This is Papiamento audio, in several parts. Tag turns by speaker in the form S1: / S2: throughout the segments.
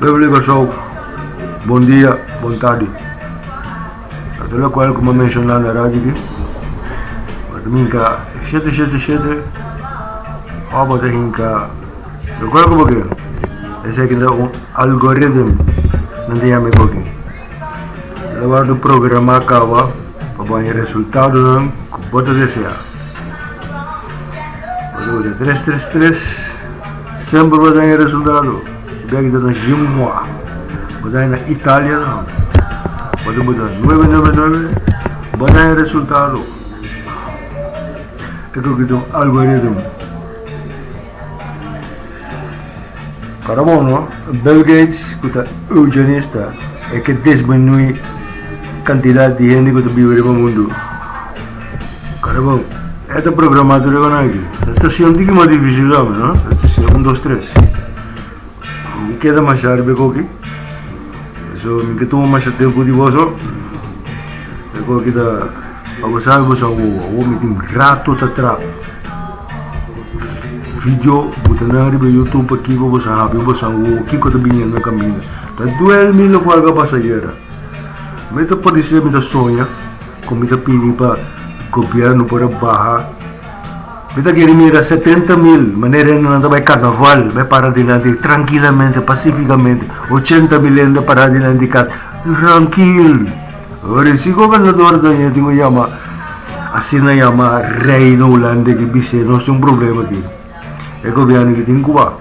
S1: Beverly Kòrsou, Bon dia, bon tardi. Ta tur lokual ku mi a menshoná na radio aki, ba'e ta hinka shete shete shete òf bo ta hinka lokual ku bo kere. Esei ku ta un algoritm nan ta yama e goki. Lo wòrdu programá kaba pa bo haña resultadonan ku bo ta deseá. Ruta tres tres tres semper bo daña resultado bek di nos jim mua bo daña na Italia na bo tin bo da nuebe nuebe nuebe bo daña resultado e tur ki tin un algoritmo Karabono, Bill Gates ku ta eugenista e ke disminuí kantidat di hende ku ta biba riba mundu. Karabon, e ta programá tur riba nan aki. E stashon tiki mas difísil di ame, no? E stashon un, dos, tres. Mi keda mashá riba e koki, so mi ke tuma mashá tempu di boso. E koki ta, pa bo sabi bo sa wowo, awo mi tin rato ta traha. Video buta nan riba youtube aki pa boso habi boso a wowo kiko ta biniendo kaminda. Ta duel mi lo ku a ka pasa ayera. Mi ta paresia mi ta soña ku mi ta pidi pa gobièrnu por a baha. Mi ta kere mira setenta mil manera hende nan ta bai karnaval, bai para dilanti di trankilamente, pasifikamente, ochenta mil hende para dilanti di kas trankil. Orin si gobernador ta yama tin un yama asina yama reino hulande ki bis'e nos tin un problema aki e gobierno ki tin Cuba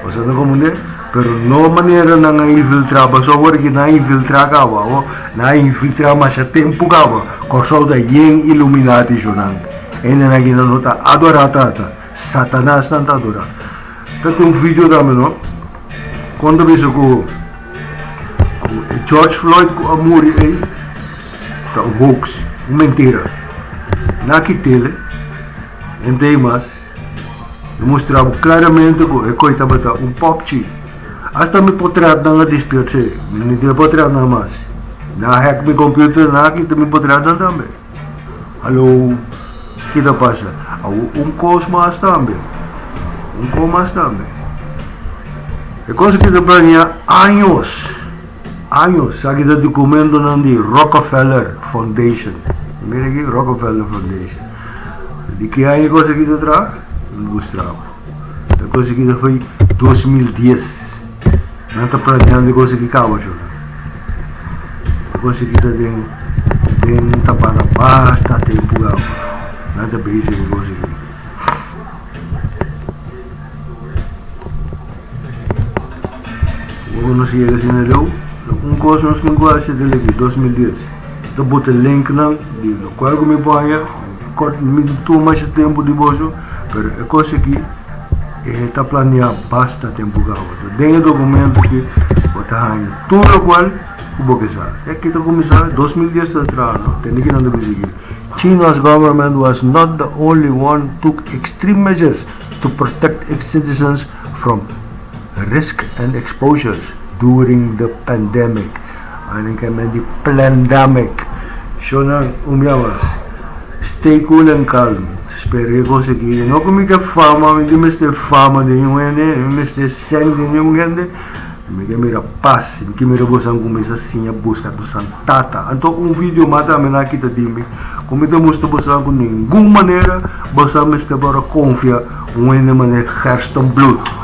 S1: nos a ta comprende pero no manera nan a infiltra pasobra ora ki nan a infiltra caba o nan a infiltra masha tempo caba Corsou ta yen illuminati sho nan hende nan aki nan no ta adora tata satanas nan ta adora ta tin un video tambe no Kon ta bisa ku e George Floyd ku a muri ei ta un hoax, un mentira? Na ki tele, hente ei mas lo mustra bo klaramente ku e koe tabata un popchi. Asta mi potretnan a dispier sey, mi no tin e potretnan mas. Na hack mi computer, na kita mi potretnan tambe. Hallo, ki ta pasa? Awo un kos mas tambe, un kos mas tambe. E kos aki ta planeá años, años. Esaki ta dokumentonan di Rockefeller Foundation. Mira aki, Rockefeller Foundation. Di ki aña e kos aki ta traha? Mi buscaba. Ta koseki ta foi dos mil dies. Nan ta planeando di koseki kaba chofer. Ta koseki ta den den un tampada basta tempu gamba. Nan ta base di koseki. Bo konosi yega si na Leu? Un kos nos tin ku haci del aki dos mil dies ta bota link nan di lokual ku mi bo aya. Kòt, mi tin tur masha tempu di boso, pero e kos aki e ta planeá basta tempu kawa. Ta den e dokumentu ki bo ta haña tur lokual ku bo ke sa. Ya ki ta kuminsá, dos mil dies ta traha no, tende kinan ta bisa ki, China's government was not the only one took extreme measures to protect its citizens from risk and exposures during the pandemic. Annan ka nan di plandamic. Sho nan un bia mas. Stay cool and calm. Spera e kos aki. I no ku mi ta fama, mi ta mester fama den un hende, mi mester sèn den un hende. Mi ta mira pas. Mi ta mira bosan kuminsá siña buska bosan tata. Anto un video mas tambe nan a kita di mi ku mi ta mustra bosan ku ningun manera bosan mester por a konfia un hende mané Gerstenbloed.